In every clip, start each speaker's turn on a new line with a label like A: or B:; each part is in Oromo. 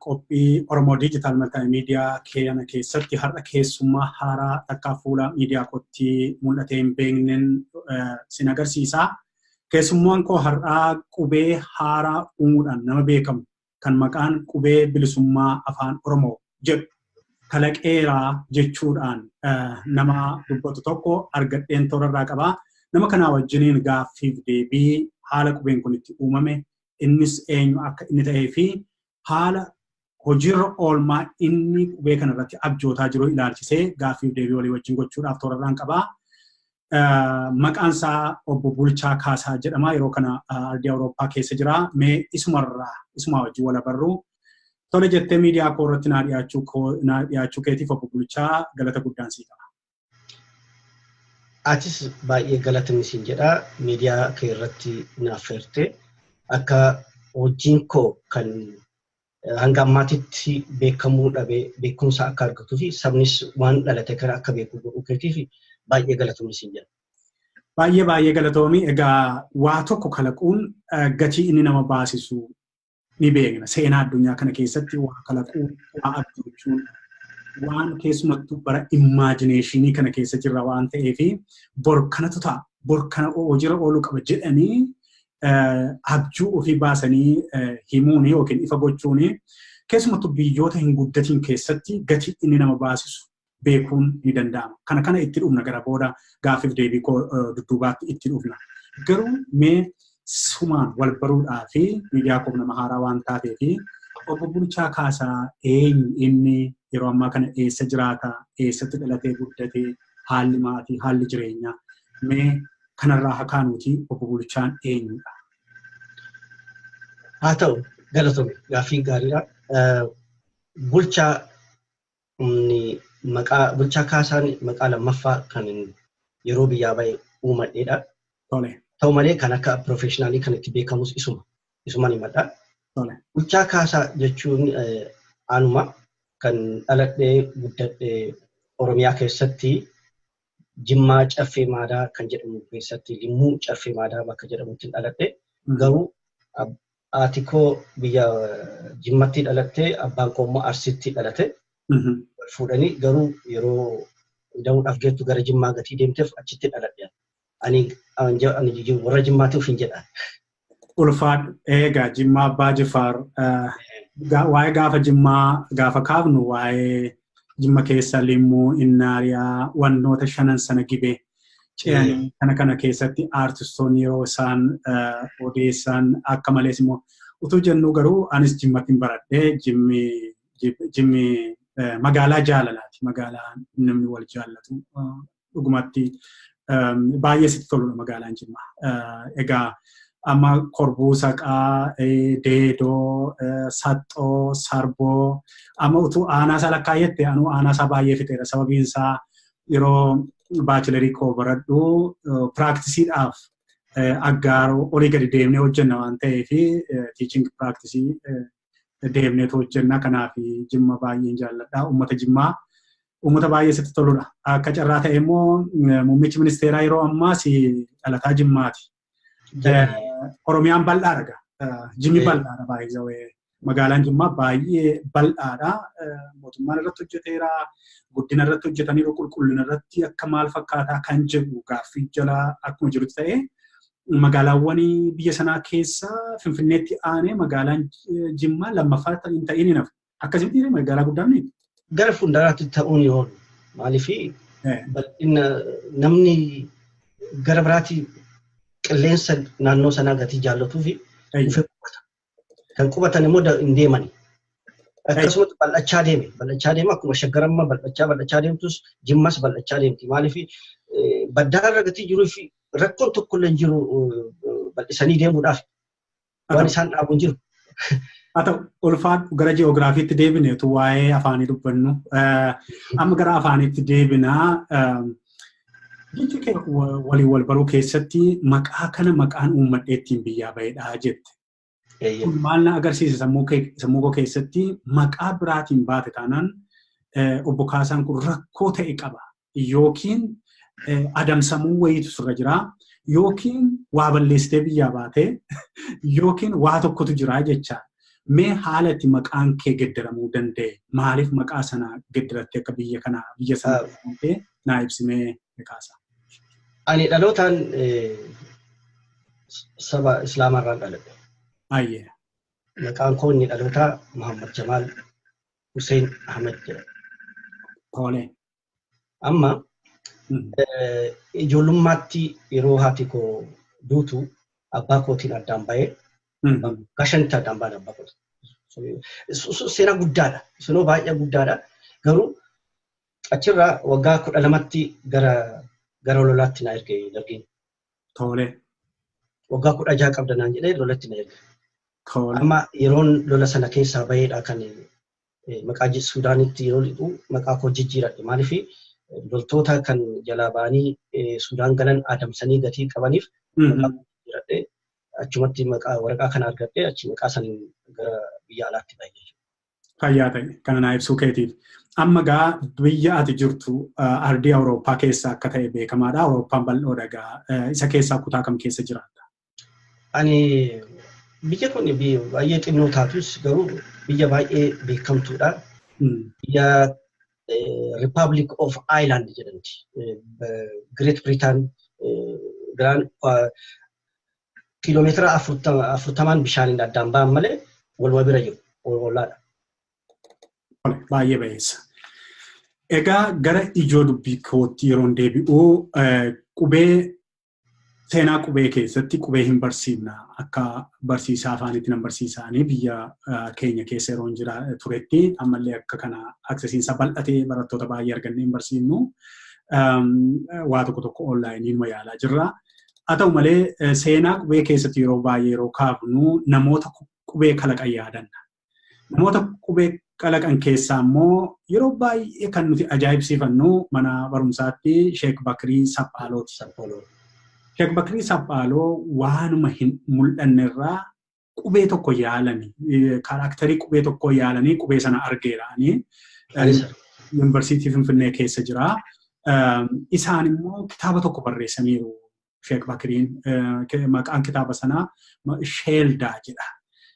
A: Qophii
B: Oromoo Digital Multimedia keeyana keessatti har'a keessummaa haaraa takkaa fuula miidiyaa kootti mul'atee hin beeknen sin agarsiisa. Keessummaan koo har'aa qubee haaraa uumuudhaan nama beekamu kan maqaan qubee bilisummaa afaan Oromoo jedhu kalaqeera jechuudhaan nama dubbatu tokko argadheen toorarraa qaba. Nama kanaa wajjiniin gaaffiif deebii haala qubeen kun itti uumame innis eenyu akka inni ta'ee fi haala hojiirra oolmaa inni qubee kana irratti abjootaa jiru ilaalchisee gaaffiif deebii walii wajjin gochuudhaaf toorarraan qabaa. Maqaan isaa obbo Bulchaa Kaasaa jedhama. Yeroo kana ardii Awurooppaa keessa jira. Mee isumarraa isumaa wajjin wal abarru. Tole jettee miidiyaa koo irratti naa dhiyaachuu keetiif obbo Bulchaa galata guddaan sii qaba.
C: Atis baay'ee galatoomi siin jedha miidiyaa kee irratti naaf feerte akka hojiin koo kan hanga ammaatitti beekamuu dhabe beekumsa akka argatuu fi sabnis waan dhalate kana akka beeku godhuu keetiif baay'ee galatoomi siin jedha. Baay'ee baay'ee
B: galatoomi egaa waa tokko kalaquun gatii inni nama baasisu ni beekna. Seenaa addunyaa kana keessatti waa kalaquu, waa abjuuchuun waan keessumattuu bara immaajineeshinii kana keessa jirra waan ta'eef bor kanatu ta'a, bor kana hojiirra ooluu qaba jedhanii abjuu ofii baasanii himuun yookiin ifa gochuun keessumattuu biyyoota hin guddatiin keessatti gatii inni nama baasisu beekuun ni danda'ama. Kana kana itti dhufna gara booda gaaffiif deebii koo dudduubaatti itti dhufna. Garuu mee sumaan wal baruudhaa fi miidiyaa koof nama haaraa waan taatee fi obbo Bulchaa Kaasaa eenyu inni yeroo ammaa kana eessa jiraata eessatti dhalatee guddate haalli maatii haalli jireenyaa mee kanarraa hakaanuuti obbo Bulchaan eenyudha?
C: Haa ta'u galatoomi gaaffiin gaariidha. Bulchaa Humni maqaa bulchaa Kaasaan maqaa lammaffaa kanin yeroo biyyaa ba'e uumadheedha. Tole.
B: Ta'u malee kan akka
C: professionally kan itti beekamus isuma. Isuman himadha. Tole. Bulchaa Kaasaa jechuun eh, anuma kan dhaladhee guddadhe Oromiyaa keessatti Jimmaa Caffee Maadaa kan jedhamu keessatti Limmuu Caffee Maadaa bakka jedhamutti dhaladhe. Mhm. Garuu ab- Haati koo biyya Jimmatti dhalattee abbaan koo immoo Arsiitti dhalate. Wal fuudhanii garuu yeroo ida'uudhaaf geettu gara Jimmaa gatii deemteef achitti dhaladhe. Ani warra Jimmaatti ofiin jedha. Ulfaadhu
B: eegaa Jimmaa Abbaa Jifaar waa'ee gaafa Jimmaa gaafa kaafnu waa'ee Jimma keessa Limmuu, Innaariyaa, wantoota shanan sana gibee Kana kana keessatti aartistoonni yeroo isaan odeessan akka malees immoo utuu jennuu garuu anis jimmattiin baradhee jimmi magaalaa jaalalaati. Magaalaa namni wal jaallatu dhugumatti baay'ee sitti toludha magaalaan jimma. Egaa amma korbuu saqaa, deedoo, saxxoo, sarboo amma utuu aanaa isaa lakkaa'etti anuu aanaa isaa baay'ee fixeera sababiin isaa yeroo baachilarii koo baradhu piraaktisidhaaf aggaaroo olii gadi deemnee hojjenna waan ta'eef tiiching piraaktisii deemneetu hojjenna kanaaf jimma baay'een jaalladha uummata jimmaa uummata baay'ee sitti toludha akka carraa ta'e immoo muummichi ministeeraa yeroo ammaas dhalataa jimmaati Oromiyaan bal'aa dhaga. Jimmi bal'aadha baay'ee magaalaan Jimmaa baay'ee bal'aadha. Mootummaan irratti hojjeteera. Guddina irratti hojjetaniiru qulqullina irratti akka maal fakkaataa kan jedhu gaaffii jala akkuma jirutti ta'ee magaalaawwan biyya sanaa keessa Finfinneetti aanee magaalaan Jimmaa lammaffaa hin ta'in hin hafu. Akkasii dhiirri magaalaa guddaa miti. Gara fuulduraatti
C: ta'uun yoo oolu maaliif bal'ina namni gara biraatti qilleensa naannoo sanaa gatii jaallatuu fi dhufee qubata. Kan qubatan immoo hin deemani. Akkasumas bal'achaa deeme. Bal'achaa deema akkuma shaggar amma bal'achaa bal'achaa deemtus jimmas bal'achaa deemti. Maaliif baddaa irra gatii jiruu fi rakkoon tokko illee jiru bal'isanii deemuudhaaf. waan isaan dhaabu jiru. Haa
B: ta'u ulfaadhu gara ji'oogiraafiitti deebine utuu waa'ee afaanii dubbannu. Amma gara afaaniitti deebina. Jechi kee walii wal baruu keessatti maqaa kana maqaan uummadhee ittiin biyyaa bahedha jette. Kun maal na agarsiisa sammuu koo keessatti maqaa biraatiin baate taanaan obbo Kaasaan kun rakkoo ta'e qaba. yookiin adamsamuu wayiitu sirra jira yookiin waa balleessitee biyyaa baatee yookiin waa tokkotu jira jecha mee haala itti maqaan kee geddaramuu danda'e maaliif maqaa sana geddarattee akka biyya kana biyya sana jedhamtee naa ibsimee kaasa. Ani
C: dhalootaan saba Islaamaa irraan dhaladhe. Baay'ee.
B: Maqaan
C: koo inni dhalootaa Muhammad Jamaal Hussein Ahmed jedhama. Tole. Amma ijoollummaatti yeroo haati koo duutu abbaa kootiin addaan bahee waggaa shanitti addaan bahan abbaa kootiin. Seenaa guddaadha. Seenaa baay'ee guddaadha. Garuu achirraa waggaa kudha lamatti gara gara lolaatti na erge dargiin. Tole. Waggaa kudha jaha qabda naan jedhee lolatti na erge. Tole. Amma
B: yeroon
C: lola sana keessaa baheedha kan maqaa Suudaanitti yeroo dhiqu maqaa koo jijjiiradhe maaliif loltoota kan jalaa ba'anii Suudaan galan adamsanii gatii qabaniif maqaa koo jijjiiradhe achumatti maqaa waraqaa kana argadhe achi maqaa saniin gara biyya alaatti bahe jechuudha. Fayyaa ta'e
B: kana naa ibsuu keetiif. Amma gaa biyya ati jirtu ardii Awurooppaa keessa akka ta'e beekamaadha. Awurooppaan bal'oodha gaa isa keessaa kutaa kam keessa jiraatta? Ani
C: biyya kun baay'ee xinnoo taatus garuu biyya baay'ee beekamtuudha. Biyya Republic of Ireland jedhamti. Great Britain biraan kiiloomeetira afurtamaan bishaaniin addaan ba'an malee waluma bira jiru. Ollaadha.
B: Baay'ee bayeessa. Egaa gara ijoo dubbii kootti yeroon deebi'u qubee seenaa qubee keessatti qubee hin barsiifna akka barsiisaa afaanitti nan barsiisaanii biyya keenya keessa yeroo hin jira turetti ammallee akka kana aksesiinsa bal'atee barattoota baay'ee argannee hin barsiifnu waa tokko tokko onlaayiniin yaalaa jirra. Haa ta'u malee seenaa qubee keessatti yeroo baay'ee yeroo kaafnu namoota qubee kalaqan yaadanna. Namoota qubee kalaqan keessaa immoo yeroo baay'ee kan nuti ajaa'ibsiifannu mana barumsaatti Sheek Bakrii Saphaalooti. Sheek Bakrii Saphaaloo waanuma hin mul'annerraa qubee tokko yaalanii kaaraaktarii qubee tokkoo yaalanii qubee sana argeeraanii yuunivarsiitii Finfinnee keessa jira. Isaan immoo kitaaba tokko barreessaniiru. Sheek Bakiriin maqaan kitaaba sanaa Sheeldaa jedha.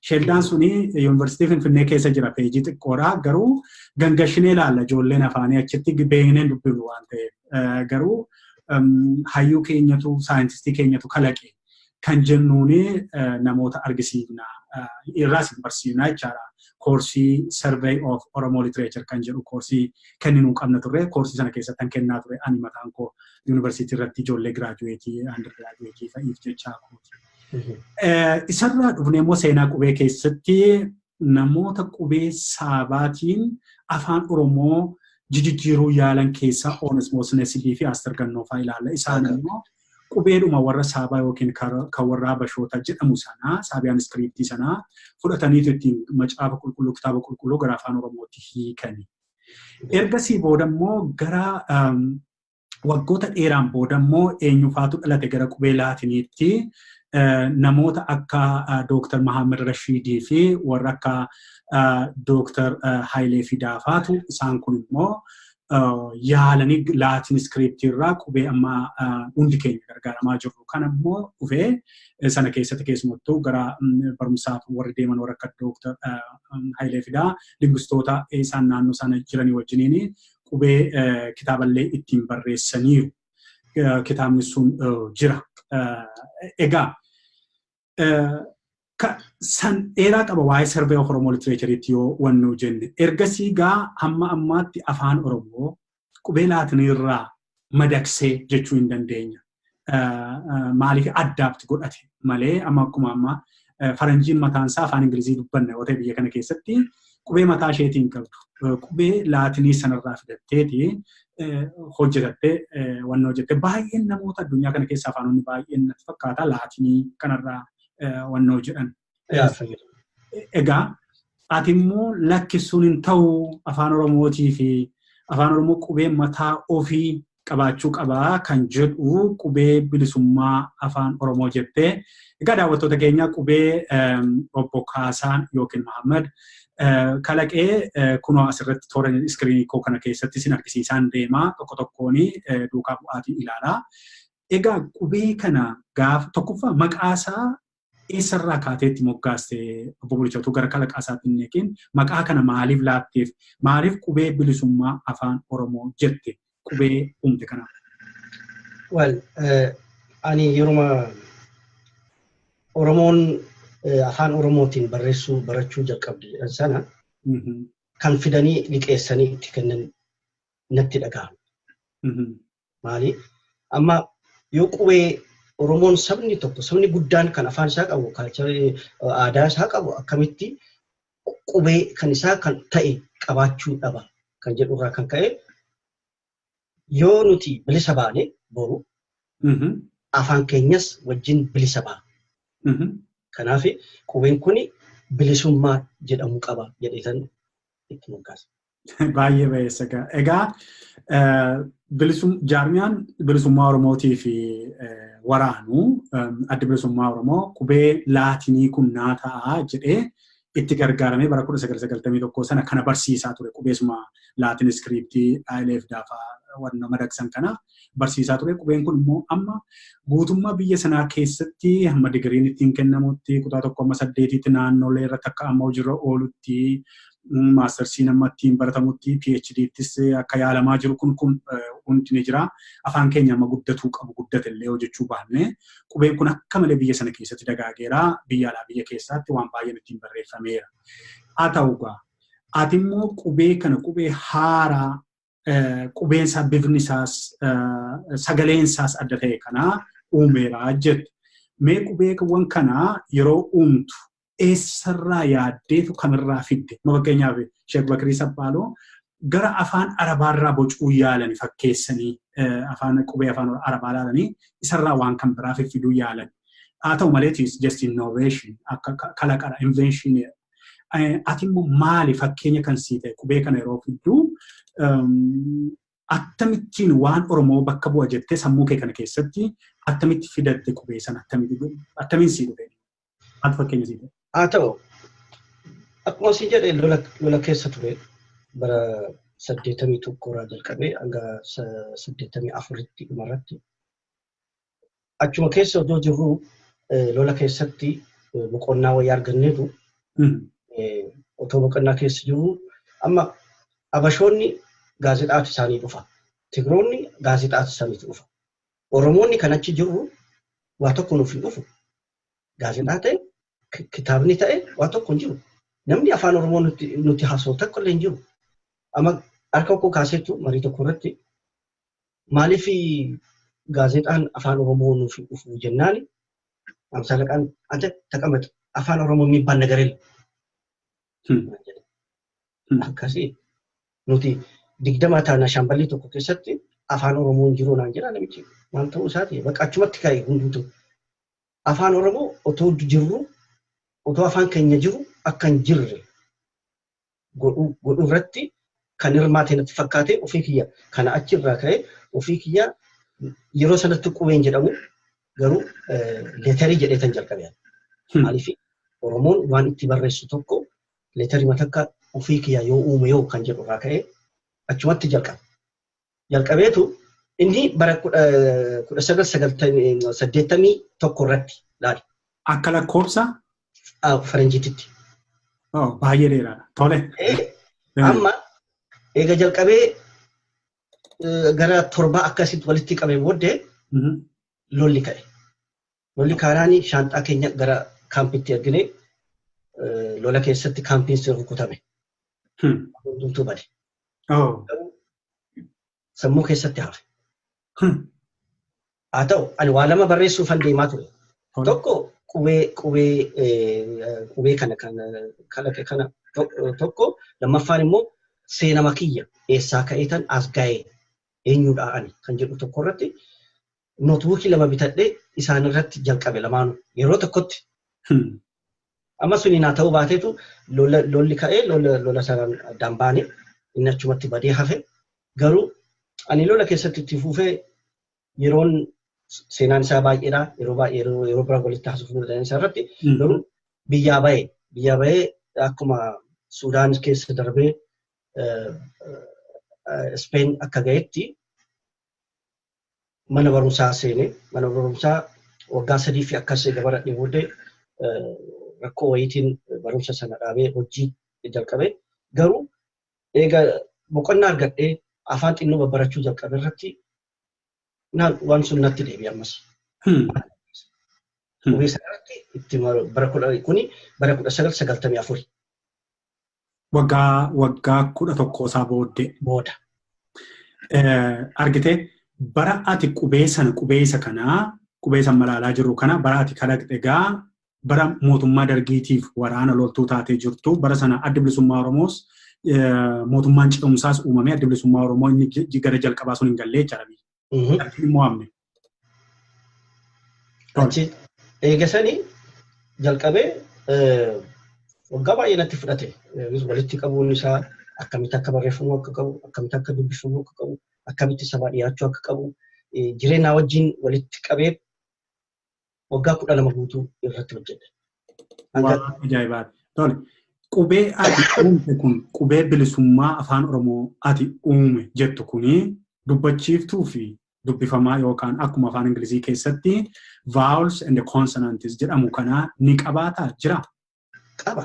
B: Sheeldaan suni yuunivarsiitii Finfinnee keessa jira peejii xiqqoodha garuu gangashinee ilaalla ijoolleen afaanii achitti beekneen dubbifnu waan ta'eef garuu hayyuu keenyatu saayintistii keenyatu kalaqe kan jennuun namoota argisiifna irraas hin barsiifna jechaadha. Koorsii Survey of Oromo Literature kan jedhu koorsii kenninuu qabna turre koorsii sana keessatti kan kennaa ture ani mataan koo yuunivarsiitii irratti ijoollee giraajuweetii andir giraajuweetii fa'iif jechaa kooti. Isarraa dhufnee immoo seenaa qubee keessatti namoota qubee saabaatiin afaan Oromoo jijijjiiruu yaalan keessaa Oonesmoos Nesilii fi Aastar Gannoofaa ilaalla. Isaan immoo qubeedhuma warra saabaa yookiin kan warra habashoota jedhamu sanaa saabiyaan iskiriiptii sanaa fudhataniitu ittiin macaafa qulqulluu kitaaba qulqulluu gara afaan oromootti hiikani. Ergasii booda immoo gara waggoota dheeraan booda immoo eenyufaatu dhalate gara qubee laatiniitti namoota akka Dooktar Mahaammed Rashiidii fi warra akka Dooktar Hayilee Fidaafaatu isaan kun immoo yaalanii laatiin iskiriiptii irraa qubee amma hundi keenya gargaaramaa jirru kana immoo dhufee sana keessatti keessumattuu gara barumsaaf warri deeman warra akka Dooktar Hayilee Fidaa lingustoota isaan naannoo sana jiranii wajjiniin qubee kitaaballee ittiin barreessaniiru. Kitaabni sun jira. Egaa san dheeraa qaba waa'ee sarbee of Oromoo litireechariitti yoo wannuu jenne. Ergasii gaa hamma ammaatti afaan Oromoo qubee laatiniirraa madaqsee jechuu hin dandeenya. Maaliif addaapti godhate malee amma akkuma ammaa faranjiin mataan isaa afaan Ingilizii dubbanna yoo ta'e biyya kana keessatti qubee mataa isheetii hin qabdu. Qubee laatinii sanarraa fidatteeti hojjetattee wanna hojjette. Baay'een namoota addunyaa kana keessa afaanonni baay'een natti fakkaata laatinii kanarraa wanna hojjetan. Egaa ati immoo lakkisuun hin ta'u afaan oromootii fi afaan oromoo qubee mataa ofii qabaachuu qabaa kan jedhu qubee bilisummaa afaan oromoo jettee egaa daawwattoota keenya qubee obbo Kaasaan yookiin Mahammad kalaqee kunoo asirratti toora iskiriinii koo kana keessatti isin argisiisaan deemaa tokko tokkoon duukaa bu'aatiin ilaalaa. Egaa qubee kana gaafa tokkoffaa maqaasaa eessarraa kaatee itti moggaaste obbo Bulchaatu gara kalaqaa isaatti hin neeqiin maqaa kana maaliif laatteef maaliif qubee bilisummaa afaan Oromoo jette qubee uumte kana.
C: Wal ani yeruma Oromoon afaan Oromootiin barreessuu barachuu jalqabde jedhan sana kan fidanii liqeessanii itti kennan natti dhaga'ama. Maali? Amma yoo qubee Oromoon sabni tokko sabni guddaan kan afaan isaa qabu kaalcharii aadaa isaa qabu akkamitti qubee kan isaa kan ta'e qabaachuu dhaba kan jedhu irraa kan ka'e yoo nuti bilisa baane boru afaan keenyas wajjin bilisa ba'a. Kanaaf qubeen kun bilisummaa jedhamu qaba jedheetan itti moggaasa. Baay'ee bayeessa
B: gaa. Egaa jaarmiyaan bilisummaa Oromootii fi waraanu adda bilisummaa Oromoo qubee laatinii kun naa ta'a jedhee itti gargaaramee bara 1991 sana kana barsiisaa ture qubeesuma laatin iskiriiptii ILF daafaa wanna madaqsan kana barsiisaa ture. Qubeen kun immoo amma guutummaa biyya sanaa keessatti hamma digiriin ittiin kennamutti kutaa tokko amma saddeetiitti naannolee irratti akka amma hojiirra oolutti maastarsiin amma ittiin baratamutti PHDttis akka yaalamaa jiru kun kun hundi ni jira. Afaan keenya amma guddatuu qabu guddate illee hojjechuu baannee qubeen kun akka malee biyya sana keessatti dagaageera. Biyya alaa biyya keessaatti waan baay'een ittiin barreeffameera. Haa ta'u egaa ati immoo qubee kana qubee haaraa qubeen isaa bifni isaas sagaleen isaas adda ta'e kanaa uumeera jette. Mee qubeewwan kanaa yeroo uumtu eessarraa yaaddeetu kamirraa fidde? Fakkeenyaaf Sheek Bakirii Saphaaloo gara afaan arabaarraa bocuu yaalani fakkeessanii afaan qubee afaan arabaa laalanii isarraa waan kan biraa fiffiduu yaalan. Haa ta'u maleetis just innovation akka kalaqadha invention Ati immoo maali fakkeenya kan sii ta'e qubee kana yeroo fidduu akkamittiin waan Oromoo bakka bu'a jettee sammuu kee kana keessatti akkamitti fidatte qubee sana akkamiin sii dhufe? Maal fakkeenya sii ta'e? Haa ta'u
C: akkuma sii jedhe lola keessa ture bara saddeettamii tokko irraa jalqabee hanga saddeettamii afuritti dhumarratti Achuma keessa odoo jirruu lola keessatti boqonnaa wayii arganneetu otoo boqonnaa keessa jirruu amma Abashoonni gaazexaatu isaanii dhufa. Tigroonni gaazexaatu isaaniitu dhufa. Oromoonni kan achi jirru waa tokko nuuf hin dhufu. Gaazexaa ta'e kitaabni ta'e waa tokko hin jiru. Namni afaan Oromoo nuti haasa'u tokko illee hin jiru. Amma harka koo kaaseetu marii tokko irratti Maaliif gaazexaan afaan Oromoo nuuf hin dhufu jennaan Amsa Alaqaan ante taqamex afaan Oromoo miibbaan nagarel akkasii nuti digdama taana shaamballii tokko keessatti afaan Oromoo hin jiru naan jedha namichi maal ta'uu isaati bakka achumatti ka'e hunduutu afaan Oromoo otoo jirru otoo afaan keenya jiru akka hin jirre godhu godhu irratti kan hirmaate natti fakkaate ofii kiyya kana achi irraa ka'e ofii kiyya yeroo sanatti qubeen jedhamu garuu leetarii jedhee tan jalqabe maaliif Oromoon waan itti barreessu tokko leetarii matakka ofii kiyya yoo uume yoo kan jedhu irraa ka'e achumatti jalqabe. jalqabeetu inni bara 1981 irratti laale. Akka lakkoofsa? Faranjiititti.
B: Baay'ee dheeraadha. Tole. Amma
C: eega jalqabee gara torbaa akkasitti walitti qabee booddee lolli ka'e. Lolli kaanaanii shaanxaa keenya gara kaampitti ergine lola keessatti kaampiin sun rukutame. Hundumtuu bade. Sammuu keessatti hafe. Haa ta'u ani waa lama barreessuuf han deemaa ture. Tokko qubee qubee qubee kana kan kalaqe kana tokko lammaffaan immoo seenama kiyya eessaa ka'eetan as ga'ee eenyudhaa ani kan jedhu tokko irratti nootbuukii lama bitadhee isaan irratti jalqabe lamaanuu yeroo tokkotti. Amma suni naa ta'uu baateetu lolli ka'ee lola sanaan addaan baane inni achumatti badee hafe garuu ani lola keessatti itti fuufee yeroon seenaan isaa baay'eedha yeroo baay'ee yeroo biraa walitti haasofnu danda'an isaa irratti garuu biyyaa ba'e biyyaa ba'ee akkuma Suudaan keessa darbee Ispeen akka ga'etti mana barumsaa seene. Mana barumsaa waggaa sadii fi akkas eega baradhee booddee rakkoo wayiitiin barumsa sana dhaabee hojii jalqabe. Garuu eega boqonnaa argadhee afaan xinnoo babbarachuu jalqabe irratti waan sun natti deebi'e ammas. Qubee sana irratti itti bara kuni bara kudha sagal sagaltamii afuri. waggaa
B: waggaa kudha tokko isaa booddee booda. Argitee bara ati qubee sana qubee isa kanaa qubee san malaalaa jirru kana bara ati kalaqxe egaa bara mootummaa dargiitiif waraana loltuu taatee jirtu bara sana addi bilisummaa Oromoos mootummaan ce'umsaas uumamee addi bilisummaa Oromoo inni gara jalqabaa sun hin gallee jechaadha. Achi hin mo'amne.
C: Achi eegasanii jalqabee waggaa baay'ee natti fudhate. Walitti qabuun isaa akkamitti akka barreeffamuu akka qabu, akkamitti akka dubbifamuu akka qabu, akkamitti sabaa dhiyaachuu akka qabu, jireenyaa wajjin walitti qabee waggaa kudha lama guutuu irratti hojjedhe. Waan
B: ajaa'ibaati. Tole. Qubee ati uumte kun qubee bilisummaa afaan Oromoo ati uume jettu kuni dubbachiiftuu fi dubbifamaa yookaan akkuma afaan Ingilizii keessatti vowels and consonants jedhamu kana ni qabaataa jira? Qaba.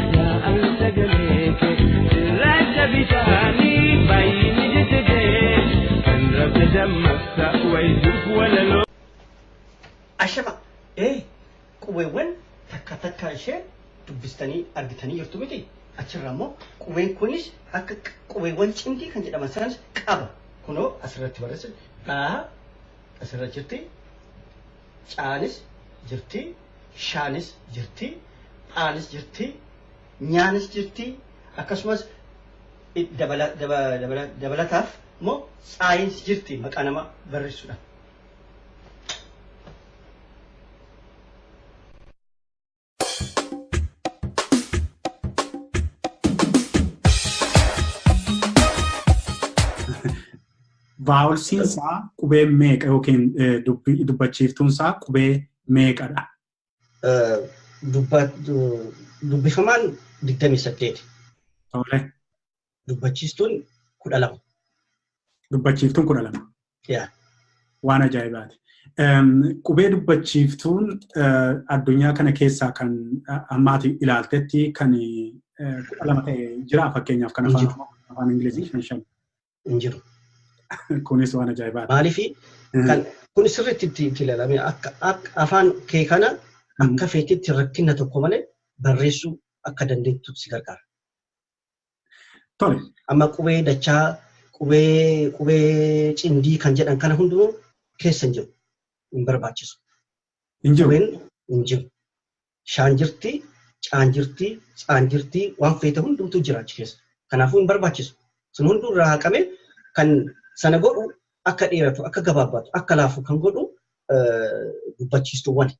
C: Ashama ee qubeewwan takka takka ishee dubbistanii argitanii jirtu miti achirraa immoo qubeen kunis akka qubeewwan cimdii kan jedhaman sanas qaba kunoo asirratti barreessa dhaa asirra jirti caanis jirti shaanis jirti dhaanis jirti, nyaanis jirti, akkasumas dabalataaf immoo tsaayiins jirti maqaa nama barreessudha.
B: Vaawulsiin isaa qubee meeqa yookiin dubbachiiftuun isaa qubee meeqadha?
C: dubbifamaan 28. Tole. Dubbachiistuun 12.
B: Dubbachiiftuun 12. Yaa.
C: Waan
B: ajaa'ibaati. Qubee dubbachiiftuun addunyaa kana keessaa kan ammaati ilaaltetti kan kudha lama ta'e jira
C: fakkeenyaaf
B: kan afaan Ingilizii shan shan. hin jiru. Kunis waan ajaa'ibaati. Maaliif kan
C: kun sirriitti itti itti ilaalame akka akka afaan kee kana akka feetitti rakkina tokko malee barreessuu akka dandeettu si gargaara.
B: Tole. Amma
C: qubee dachaa qubee qubee cimdii kan jedhan kana hundinuu keessa hin jiru. Hin barbaachisu. Hin jiru.
B: Qubeen hin jiru.
C: Bishaan jirti, caan jirti, tsaan jirti, waan feete hundumtuu jira achi keessa. Kanaafuu hin barbaachisu. Sun hunduu irraa haqamee kan sana godhu akka dheeratu, akka gabaabbatu, akka laafu kan godhu dubbachiistuuwwani.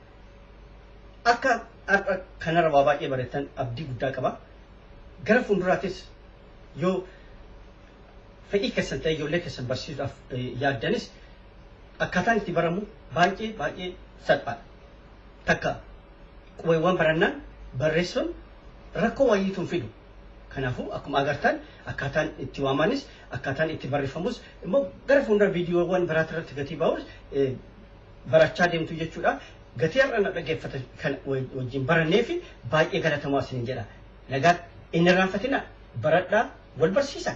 C: Akka har'a kanarra waa baay'ee barattan abdii guddaa qaba. Gara fuulduraafis yoo fedhii keessan ta'e ijoollee keessan barsiisuudhaaf yaaddanis akkaataan itti baramu baay'ee baay'ee salphaadha. Takka qubeewwan barannaan barreessuun rakkoo wayiitu hin fidu. Kanaafuu akkuma agartan akkaataan itti waamanis akkaataan itti barreeffamus immoo gara fuuldura viidiyoowwan biraatti irratti gatii ba'us barachaa deemtu jechuudha. Gatii har'a na dhaggeeffatan kan wajjin barannee fi baay'ee galatamaa isin jedha. Nagaa hin irraanfatina baradhaa wal barsiisa.